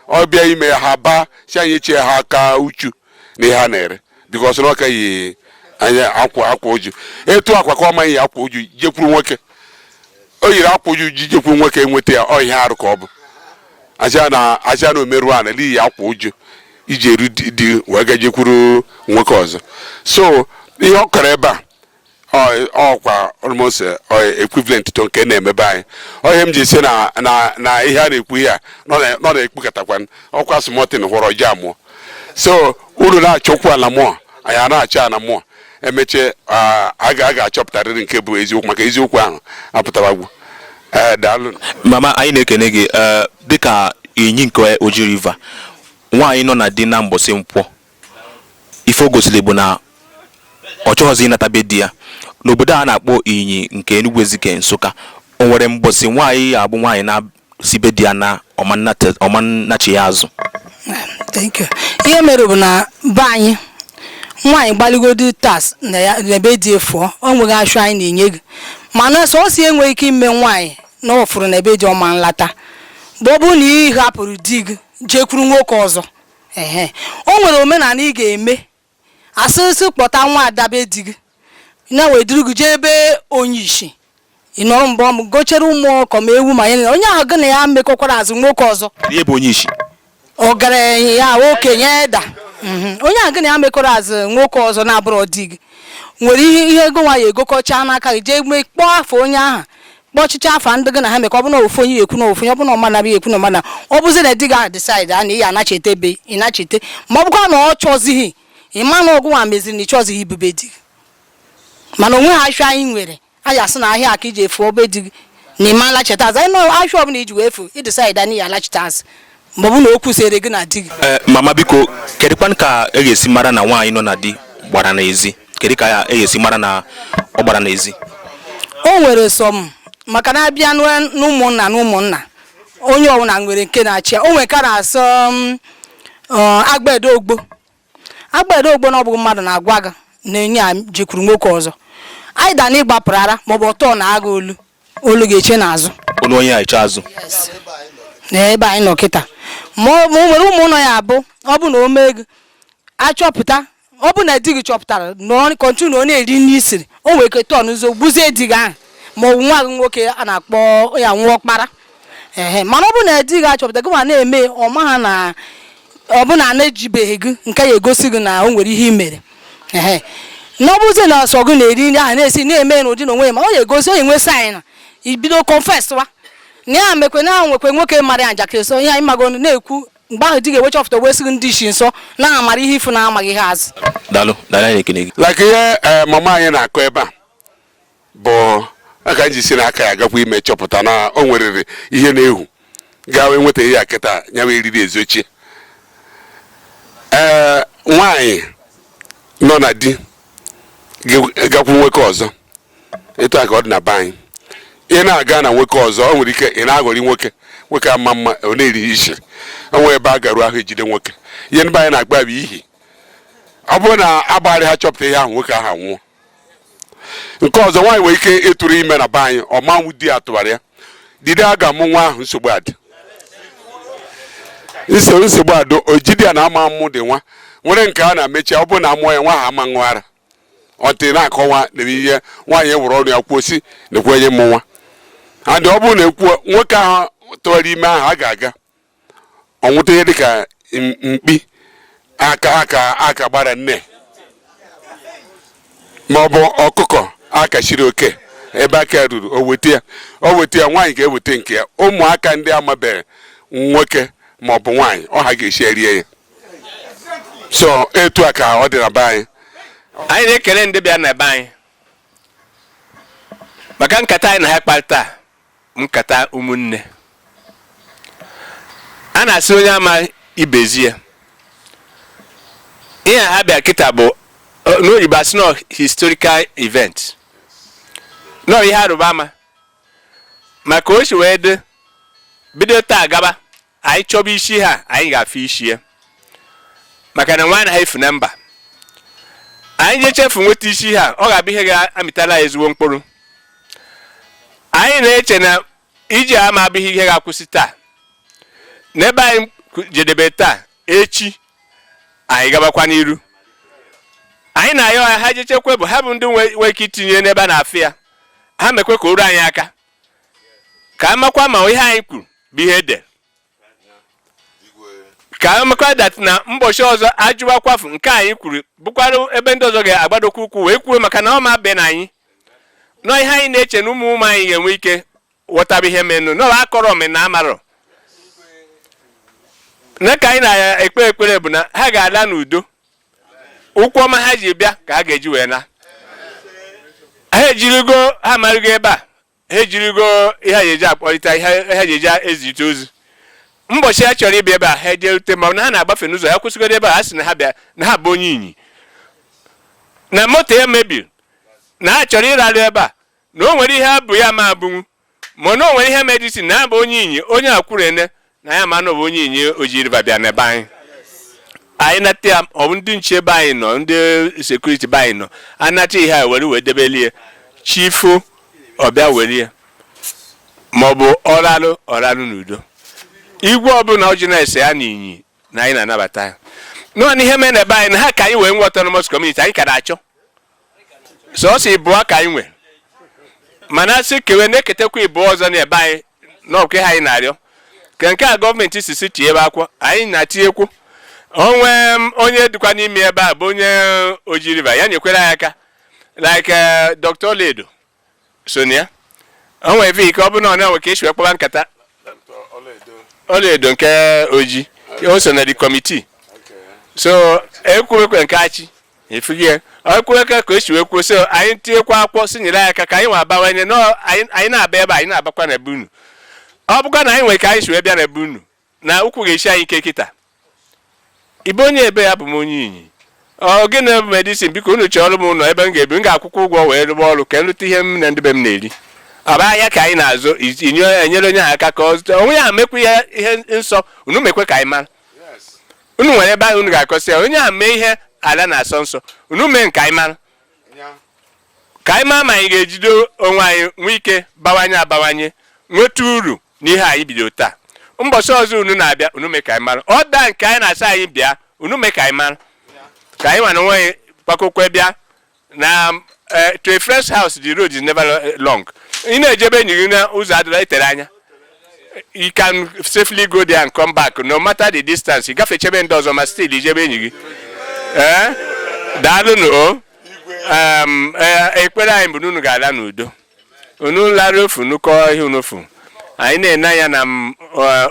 ọ bịa ime ya ha baa si anyị chie ha aka uchu na ihe ha na-ere because na ọ ka yi nya akwa akwa uju etu akwa ka ọ ma eyi akwa uju jekwuru nwoke o yiri akwa uju ji jekwuru nwoke enweta ya ọ ihe arụ ka ọ bụ aja na aja na o meru ana na iyi akwa uju i ji eru di- di wee ga jekwuru nwoke ọzọ so ihe ọ kọrọ ebe a ọkwa almost eh, eh, equivalent to nke na-eme be anyị ihe m ji si na na ihe a na-ekwu ihe a nọ na-ekpukọtakwa ọkwa small thing hụrọ ji amụọ so unu na-achọkwu ala mmụọ anyị a na-achọ ala mmụọ emechie ah, a ga-achọpụtarịrị nke bụ eziokwu maka eziokwu ahụ apụtawagwu eh, daalụ mama anyị
na-ekene gị dịka Inyi nke Oji River nwaanyị nọ na di na mbọsị nkwọ ife o gosiri bụ na ọ chọghọzi ịnata be di ya n'obodo a na-akpọ Inyi nke Enugu Ezike Nsụka o nwere mbọsị nwaanyị ya abụ nwaanyị na-asị be di ya na ọ ma nnata- ọ ma nnachi ya azụ Thank
you. ihe mere bụ na be anyị nwaanyị gbalịgodu tas na ya na be di efu o nweghị ashụ anyị na-enye gị mana sọsọ ihe nwere ike ime nwaanyị na ọ fụrụ na be di ọ ma nlata bụ ọ bụrụ na ị hapụrụ di gị jekwuru nwoke ọzọ ehe o nwere omenala ị ga-eme a sị gị kpọta nwa ada be di gị ya wee duru gị jee be onye isi ị nọrọ mgbe ọmụ gochere ma ọkụkọ ma ewu ma ya onye ahụ gị na ya mekọkwara azụ nwoke ọzọ Kedu ihe bụ onye
isi?
ọgaranya ya okenye eda Mhm. onye ahụ gị na ya mekọrọ azụ nwoke ọzọ na-abụrọ di gị were ihe ihe ego nwa ya egokọcha n'aka gị jee mee kpọọ afa onye ahụ kpọchicha afa ndị gị na ha mekọ ọ bụ na ofu onye ekwu na ofu onye ọ bụ na ọmana bụ ekwu na ọmana ọ bụzi na di gị ahụ decide a na ị ya anachite ebe ị nachite ma ọ bụkwa na ọ chọzighị ịma na ọ gị nwa meziri na ị chọzighị ibi be di gị mana o nwe ha ashụ anyị nwere anyị asị na ihe a ka i ji efu be di gị na ị ma lachita azụ anyị nọ ahịa ọbụla i ji wee efu ị decide a na ị ya alachita azụ ma ọ bụ na okwu sere gị na di gị Ee, mama
biko kedụkwanụ ka e ga-esi mara na nwaanyị nọ na di gbara n'ezi kedu ka e ga-esi mara na ọ gbara n'ezi o
nwere some maka na a bịa n'ụ- n'ụmụnna na ụmụnna onye ọbụla nwere nke na-achị ya o nwere ka a na-asọ m, ọ, agbede ogbo agbede ogbo na ọ bụghị mmadụ na-agwa gị na onye a jekwuru nwoke ọzọ anyị da na ị gbapụrụ ara maọbụ ọtọ na agha olu olu ga-eche n'azụ olu onye a eche azụ
na
ebe anyị nọ kịta ma ọ ma o nwere ụmụnna ya abụ ọ bụ na o mee gị achọpụta ọ bụ na di gị chọpụtara na ọ continue na ọ na-eri nri i siri o nwere ike tọọ n'ụzọ gbuzie di gị ahụ ma ọ bụ nwa gị nwoke a na-akpọ ya nwa ọkpara ehe mana ọ bụ na di gị achọpụta gị ma na-eme ọ ma ha na ọ bụ na a na-ejibeghị gị nke ya egosi gị na o nwere ihe i mere ehe na ọ bụzi na o so gị na-eri nri ahụ na-esi na-eme n'ụdị na onwe ya ma ọ ya egosi onye nwe sign na i bido confess wa na ya mekwe na ahụ nwekwe nwoke mara ya njakịrị so ihe anyị mago ọnụ na-ekwu mgbe ahụ di ga-ewecha ọfụta wee sị gị ndị isi nso na-amara ihe ifu na-amaghị ihe azụ daalụ daalụ anyị
na-ekene gị like ihe eh, mama
anyị na-akọ ebe a bụ aka ji si n'aka ya gakwa ime chọpụta na o nwerere ihe na-ehu gawa enweta ihe ya kịta ya wee eriri ezochi ee nwaanyị nọ na di gakwu nwoke ọzọ etu a ka ọ dị na be anyị ị na-aga na nwoke ọzọ o nwere ike ị na-aghọrị nwoke nwoke ama ma ọ na-eri isi o nwere ebe a garuo ahụ e jide nwoke ihe ndị be anyị na-agba bụ ihi ọ bụrụ na agbarị ha chọpụta ihe ahụ nwoke ahụ anwụọ nke ọzọ nwaanyị nwere ike ịtụrụ ime na be anyị ọ ma nwụ di ya tụwara ya dide a ga-amụ nwa ahụ nsogbu adị nso nsogbu adị o jide ya na ama mmụ dị nwa nwere nke a na-emechi ọ bụrụ na a mụọ ya nwa ahụ ama ṅụ ara ọtị na-akọwa na ihe nwaanyị ewere ọnụ ya kwuo sị na-ekwenye mmụ nwa adị ọ bụrụ na e kwuo nwoke ahụ tụwara ime ahụ a ga-aga o weta ihe dịka m- mkpi aka aka aka gbara nne ma ọ bụ ọkụkọ aka siri oke ebe aka ruru o weta ya o weta ya nwaanyị ga-eweta nke ya ụmụaka ndị amabeghị nwoke ma ọ bụ nwaanyị ọ ha ga-esi erie ya so etu a ka ọ dị na be anyị anyị na-ekele
ndị bịa na be anyị maka nkata anyị na ha kparịta nkata ụmụnne a na-asị onye ama ibe ezie ihe ha bịa kịta bụ n'oyibo asị na ọ historical event na ọ ihe a rụba ama maka o si wee dị bido taa gaba anyị chọba isi ha anyị ga-afụ isi ya maka na nwa anaha efu na mba anyị jechefu nweta isi ha ọ ga-abụ ihe ga-amịtara anyị ezigbo mkpụrụ anyị na-eche na ije a ama abụ ihe ga-akwụsị taa n'ebe anyị jedebe taa echi anyị gabakwa n'iru anyị na-ayọ ha ha jechekwe bụ ha bụ ndị nwee ike itinye n'ebe a na-afụ ya ha mekwe ka o ruo anyị aka ka a makwa ma ihe anyị kwuru bụ ihe e de ka a makwa dat na mbọchị ọzọ a jụwakwafu nke anyị kwuru bụkwara ebe ndị ọzọ ga-agbadokwa ụkwụ wee kwuo maka na ọ ma be na anyị nọ ihe anyị na-eche na ụmụ ụmụ anyị ga-enwe ike ghọtaba ihe menụ na akọrọ na amarọ na ka anyị na-ekpe ekpere bụ na ha ga-ala n'udo ụkwụ ọma ha ji bịa ka ha ga-eji wee na ha ejirigo ha marụgo ebe a ha ejirigo ihe ha eji akpọrịta ihe ha ji eji ezirịta ozi mbọchị ha chọrọ ịbịa ebe a ha ejerute ma na ha na-agbafe n'ụzọ ha kwụsịgodo ebe a ha sị na ha bịa na ha bụ onye inyi na moto ya mebiri na ha chọrọ ịrarụ ebe a na o nwere ihe abụ ya ma abụnwu mana o nwere ihe medicine na ya bụ onye Inyi onye akwurene na ya ma na ọ bụ onye Inyi Oji River bịa n'ebe anyị anyị nata ya ọ bụ ndị nche be anyị nọ ndị sekuriti be anyị nọ anata ihe a were wee debeli ya chi foo ọ bịa were ya maọbụ ọralụ ọralụ n'udo igwe ọbụla o ji na-ese ya na Inyi na anyị na-anabata ya nọ na ihe mere na be anyị na ha ka anyị wee nwee autonomous community anyị ka na-achọ sọsọ ịbụọ ka anyị nwe mana a sị kewe na-eketekwa ịbụọ ọzọ na ebe anyị n'ọkwa ha anyị na-arịọ ka nke a gọọmenti si si tinyebe akwụkwọ anyị na-atinyekwu onwe onye dịkwa n'ime ebe a bụ onye Oji River ya nyekwere anyị aka like eh, Dr. Oledo so na ya o nwere ife ike ọ bụrụ na ọ na-enwe ka e si wee kpaba nkata Oledo nke Oji o so na the committee so ekwuwekwe nke Achi efugie ekwuwekwe ka o si wee kwuo so anyị tinyekwa akwụkwọ sị nyere anyị aka ka anyị nwa abawanye na anyị na-aba ebe anyị na-abakwa na ebe unu ọ bụkwa na anyị nwere ka anyị si wee bịa na ebe unu na ụkwụ ga-esi anyị ike kịta ibe onye ebe ya bụ m onye Inyi ọ gịnị bụ medicine biko unu chọrọ m ụlọ ebe m ga-ebi m ga-akwụkwa ụgwọ wee rụba ọrụ ka m rụta ihe m na ndị be m na-eri ọ bụ ahịa ka anyị na-azụ e nyere onye ahụ aka ka ọ zụta onwe ya mekwa ihe ihe nsọ unu mekwe ka anyị mara unu nwere ebe ahụ unu ga-akọsị ya onye ahụ mee ihe ala na-asọ nsọ unu mee nke anyị mara ka anyị maa ma anyị ga-ejide onwe anyị nwee ike bawanye abawanye nweta uru n'ihe anyị bido taa mbọsị ọzọ unu na-abịa unu mee ka anyị mara ọ daa nke anyị na-asị anyị bịa unu mee ka anyị mara ka anyị nwa na onwe anyị gbakọkwe bịa na eh, to a friend's house the road is never long ị na-eje be enyi gị na ụzọ adịla etere anya you can safely go there and come back no matter the distance ị gafeche be ndị ọzọ ma still i je be enyi gị ee eh? daalụnụ o eh, ekpere anyị bụ na unu ga-ala n'udo unu lara ofu nukọ ihe unofu anyị na-ene anya na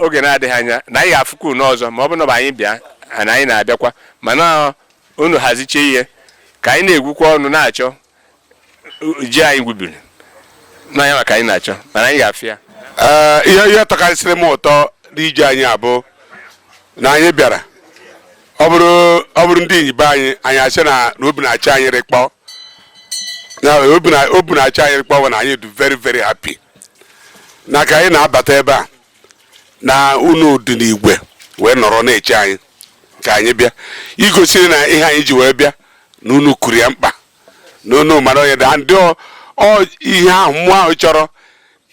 oge na-adịghị anya na anyị ga-afụkwa unu ọzọ ma ọ bụ na anyị bịa na anyị na-abịakwa mana unu haziche ihe ka anyị na-egwukwa ọnụ na-achọ ji anyị gwubiri n'anya maka anyị na-achọ mana anyị ga-afụ ya ihe ihe
tọkarịsịrị m ụtọ n'ije anyị a bụ na anyị bịara ọ bụrụ ọ bụrụ ndị Inyi be anyị anyị a sị na na obi na-achị anyị rịkpọ na obi na obi na-achị anyị rịkpọ bụ na anyị dị very very happy na ka anyị na-abata ebe a na unu dị n'igwe wee nọrọ na-eche anyị ka anyị bịa igosiri na ihe anyị ji wee bịa na unu kuru ya mkpa na unu mara onye dị ndị ọ ọ ihe ahụ mmụọ ahụ chọrọ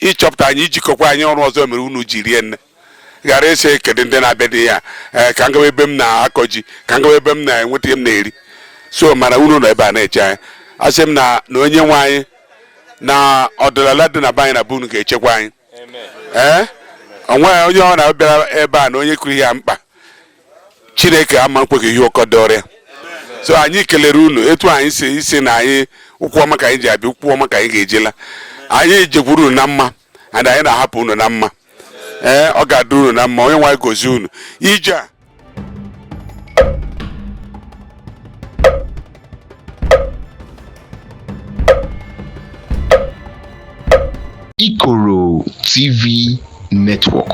ịchọpụta anyị ijikọkwa anyị ọrụ ọzọ mere unu ji rie nne ghara ịsị kedu ndị na-abịa dị ya eh, ka m gawa ebe m na-akọ ji ka m gawa ebe m na-enweta ihe m na-eri so mana unu nọ ebe a na-eche anyị asị m na onye nwe anyị na ọdịnala dị na be anyị na be unu ga-echekwa anyị ee eh? onweghị onye ọ na-abịara ebe a na onye kụrụ ya mkpa chineke ama nkwe ka ihe ụkọ dọrịa so anyị kelere unu etu anyị si sị na anyị ụkwụ ọma ka anyị ji bịa ụkwụ ọma ka anyị ga-eji ala anyị jekwuru unu na mma and anyị na-ahapụ unu na mma ee ọ ga-adịrị unu na mma onye nwe anyị gozie unu ije a
Ikoro TV Network.